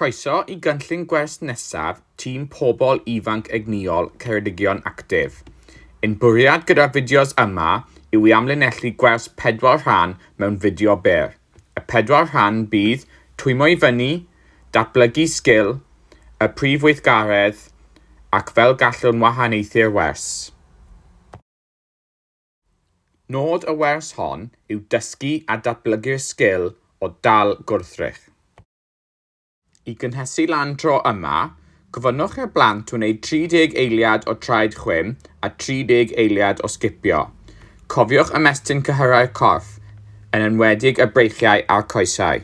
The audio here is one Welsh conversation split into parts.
Croeso i gynllun gwers nesaf tîm Pobl Ifanc Egnïol Ceredigion Actif. Ein bwriad gyda'r fideos yma yw i amlinellu gwers pedwar rhan mewn fideo byr. Y pedwar rhan bydd, Twymo i fyny, Datblygu sgil, Y prif weithgaredd, ac Fel gallwn wahaniaethu'r wers. Nod y wers hon yw dysgu a datblygu'r sgil o dal gwrthrych. I gynhesu lan tro yma, gofynnwch i'r blant wneud 30 eiliad o traed chwim a 30 eiliad o sgipio. Cofiwch ymestyn cyhyrau'r corff, yn enwedig y breichiau a'r coesau.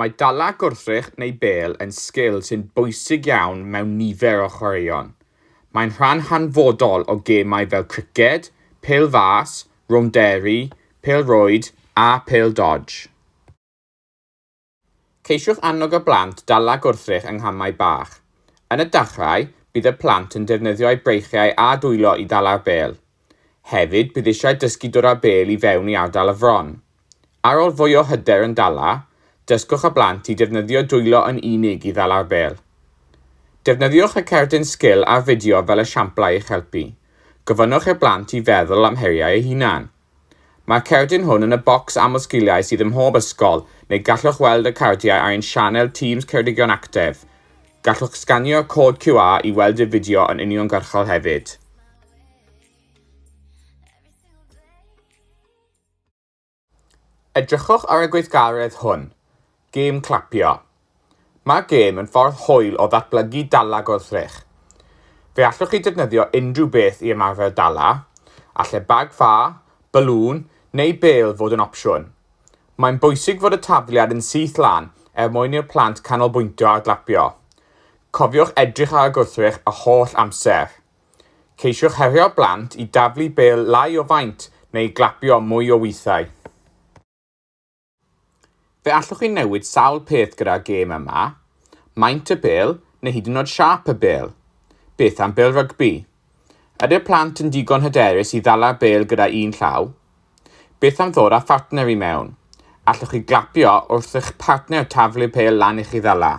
Mae dala gwrthrych neu bêl yn sgil sy'n bwysig iawn mewn nifer o chwaraeon. Mae'n rhan hanfodol o gemau fel criced, pêl fas, rownderi, pêl rwyd a phêl dodge. Ceisiwch annog y blant dala gwrthrych yng nghamau bach. Yn y dachrau, bydd y plant yn defnyddio'u breichiau a dwylo i ddala'r bêl. Hefyd, bydd eisiau dysgu dod â bêl i fewn i ardal y fron. Ar ôl fwy o hyder yn dala, dysgwch y blant i defnyddio dwylo yn unig i ddala'r bêl. Defnyddiwch y cerdyn sgil a'r fideo fel esiamplau i'ch helpu. Gofynnwch i'r blant i feddwl am heriau eu hunain. Mae'r cerdyn hwn yn y bocs amlsgiliau sydd ym mhob ysgol, neu gallwch weld y cardiau ar ein sianel Tîms Ceredigion Actef. Gallwch sganio'r cod QR i weld y fideo yn uniongyrchol hefyd. Edrychwch ar y gweithgaredd hwn, Gêm Clapio. Mae gêm yn ffordd hwyl o ddatblygu dala gwrthrych. Fe allwch chi ddefnyddio unrhyw beth i ymarfer dala, a lle bag ffa, balŵn neu bêl fod yn opsiwn. Mae'n bwysig fod y tafliad yn syth lan er mwyn i'r plant canolbwyntio ar glapio. Cofiwch edrych ar y gwrthrych yr holl amser. Ceisiwch herio plant i daflu bêl lai o faint neu glapio mwy o weithiau. Fe allwch chi newid sawl peth gyda'r gêm yma, maint y bêl neu hyd yn oed siâp y bêl. Beth am bêl rygbi? Ydy'r plant yn digon hyderus i ddala'r bêl gyda un llaw? Beth am ddod â phartner i mewn? Allwch chi glapio wrth i'ch partner taflu'r pêl lan i chi ddala?